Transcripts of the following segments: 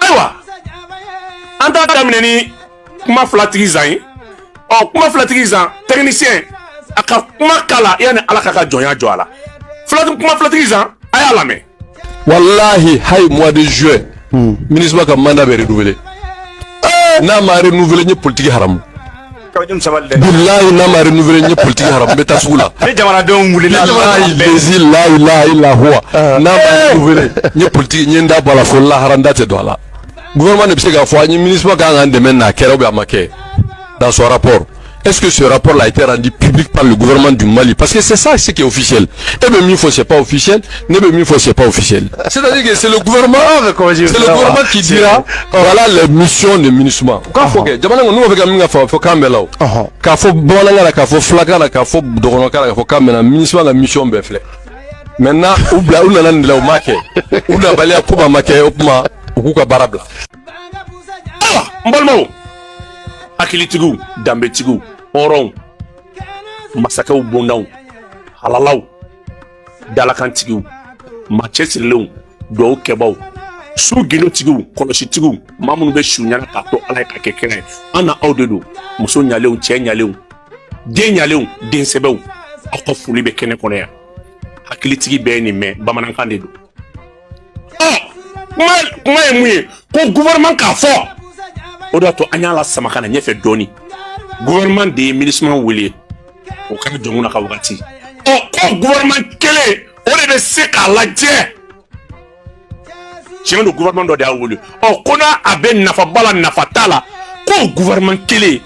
ayiwa an t'a daminɛ ni kuma filatigi zan ye ɔ kuma filatigi zan tɛkinisiyɛn a ka kuma k'a la yanni ala k'a ka jɔnya jɔ a la filatigi kuma filatigi zan a y'a lamɛn. walahi hayi mois de juin MINUSMA ka mandat bɛ renouveler n'a ma renouveler n ye politiki haramu. bilayi n'a ma renouveler n ye politique haramu n bɛ taa sugu la ni jamanadenw wulila bilayi lezi la ilaha ila huwa n'a ma renouveler n ye politique n ye n da bɔ a la fo lahara n da tɛ don a la gouvernement de bɛ se k'a fɔ an ye MINUSMA kan k'an dɛmɛ n'a kɛra ou bien a ma kɛ dans son rapport Est-ce que ce rapport-là a été rendu public par le gouvernement du Mali Parce que c'est ça ce qui est officiel. e bɛ min fɔ c'est pas officiel. ne bɛ min fɔ c'est pas officiel c'est-à-dire que c'est le gouvernement c'est le gouvernement qui dira voilà les missions de MINUSMA u k'a fɔ kɛ jamana kɔnɔ n'u b'a fɛ ka min ka fɔ fɔ kan bɛɛ la o k'a fɔ bamanankan na k'a fɔ fulakan na k'a fɔ dɔgɔnɔkan na k'a fɔ kan bɛɛ la MINUSMA ka mission bɛɛ filɛ maintenant u bila u nana nin de la u m'a kɛ u nabaliya ko ma kɛ o tuma u k'u ka baara bila ayiwa n balimaw hakilitigiw danbetigiw hɔrɔnw masakɛw bondaw halalaw dalakantigiw maa cɛsirilenw duwawu kɛbaw su gundotigiw kɔlɔsitigiw maa minnu bɛ su ɲɛna k'a to ala ye k'a kɛ kira ye an n'aw de don muso ɲalenw cɛ ɲalenw den ɲalenw den sɛbɛw aw ka foli bɛ kɛnɛ kɔnɔ yan hakilitigi bɛɛ ye nin mɛn bamanankan de don kuma ye mun ye ko gouvernement k'a fɔ o de y'a to an y'a lasama ka na ɲɛfɛ dɔɔni gouvernement de ye MINUSMA wele o kɛra Jɔnkunda ka wagati ɔ ko gouvernement kelen o de bɛ se k'a lajɛ tiɲɛ don gouvernement dɔ de y'a wele ɔ ko n'a a bɛ nafa b'a la nafa t'a la ko gouvernement kelen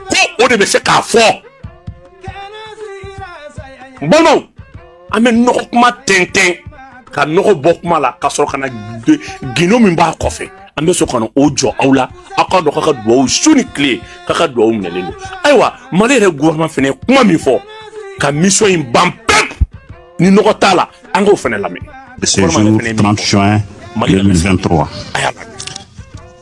ko o de bɛ se k'a fɔ balimaw an bɛ nɔgɔ kuma tɛntɛn ka nɔgɔ bɔ kuma la ka sɔrɔ ka na gundo min b'a kɔfɛ an bɛ sɔrɔ ka na o jɔ aw la aw k'a dɔn k'a ka duwawu su ni tile k'a ka duwawu minɛlen don ayiwa mali yɛrɛ gouvernement fana ye kuma min fɔ ka mission in ban pewu ni nɔgɔ t'a la an k'o fana lamɛn. ce jour 30 juin 2023.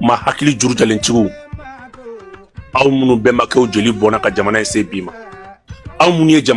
maa hakili juru jalentigiw aw minnu bɛnbakɛw jeli bɔnna ka jamana in se bi ma aw minnu ye jamana